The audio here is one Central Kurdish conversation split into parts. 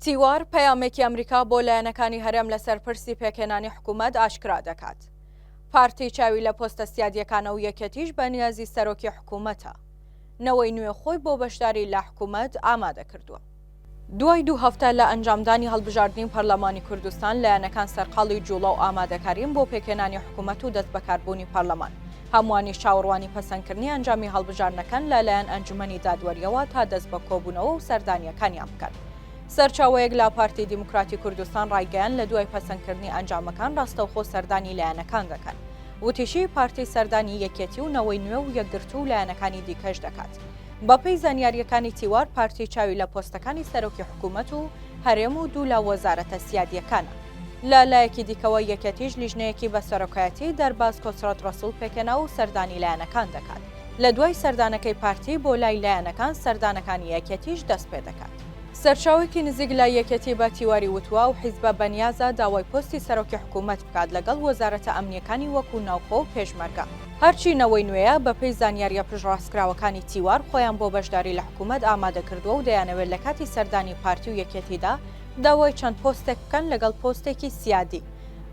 تیوار پەیامێکی ئەمریکا بۆ لایەنەکانی هەرێم لەسەر پرسی پێکهێنانی حکوومەت ئاشکرا دەکات. پارتی چاوی لە پۆستە سیادییەکانە و یەکێتیش بەنیازی سەرۆکی حکوومەتە. نەوەی نوێ خۆی بۆ بەشداری لە حکوومەت ئامادە کردووە. دوای دوو هەفتە لە ئەنجامدانی هەڵبژاردنی پەرلەمانی کوردستان، لایەنەکان سەرقاڵی جووڵە و ئامادەکاریین بۆ پێکهێنانی حکوومەت و دەستبەکاربوونی پەرلەمان. هەمووانیش چاوەڕوانی پەسەندکردنی ئەنجامی هەڵبژاردنەکەن لە لایەن ئەنجومەنی دادوەرییەوە تا دەست بە کۆبوونەوە و سەردانییەکانیان بکەن. سەرچاوەیەک لە پارتی دیموکراتی کوردستان ڕایگەیاند لە دوای پەسەندکردنی ئەنجامەکان ڕاستەوخۆ سەردانی لایەنەکان دەکەن. وتیشی پارتی سەردانی یەکێتی و نەوەی نوێ و یەکگرتوو و لایەنەکانی دیکەش دەکات. بەپێی زانیارییەکانی تیوار پارتی چاوی لە پۆستەکانی سەرۆکی حکوومەت و هەرێم و دوو لە وەزارەتە سیادییەکانە. لە لایەکی دیکەوە یەکێتیش لیژنەیەکی بە سەرۆکایەتیی دەرباز کۆسرەت ڕەسوڵ پێکهێنا و سەردانی لایەنەکان دەکات. لە دوای سەردانەکەی پارتی بۆ لای لایەنەکان، سەردانەکانی یەکێتیش دەست پێ دەکات. سەرچاوەیەکی نزیک لە یەکێتی بە تیواری وتووە، ئەو حیزبە بەنیازە داوای پۆستی سەرۆکی حکوومەت بکات لەگەڵ وەزارەتە ئەمنییەکانی وەکوو ناوخۆ و پێشمەرگە. هەرچی نەوەی نوێیە، بەپێی زانیارییە پشتڕاستکراوەکانی تیوار، خۆیان بۆ بەشداری لە حکوومەت ئامادە کردووە و دەیانەوێت لە کاتی سەردانی پارتی و یەکێتیدا، داوای چەند پۆستێک بکەن لەگەڵ پۆستێکی سیادی.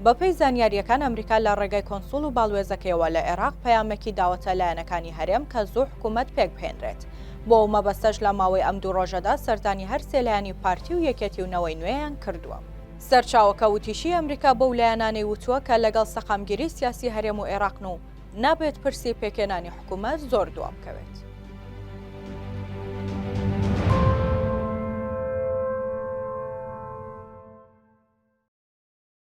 بەپێی زانیارییەکان ئەمریکا لە ڕێگای کۆنسوڵ و باڵوێزەکەیەوە لە ئێراق پەیامێکی داوەتە لایەنەکانی هەرێم کە زوو حکوومەت پێکبهێنرێت. بۆ ئەو مەبەستەش لە ماوەی ئەم دوو ڕۆژەدا سەردانی هەر سێ لایەنی پارتی و یەکێتی و نەوەی نوێیان کردووە. سەرچاوەکە وتیشی ئەمریکا بەو لایەنانەی وتووە کە لەگەڵ سەقامگیری سیاسی هەرێم و ئێراقن و، نابێت پرسی پێکهێنانی حکوومەت زۆر دوا بکەوێت.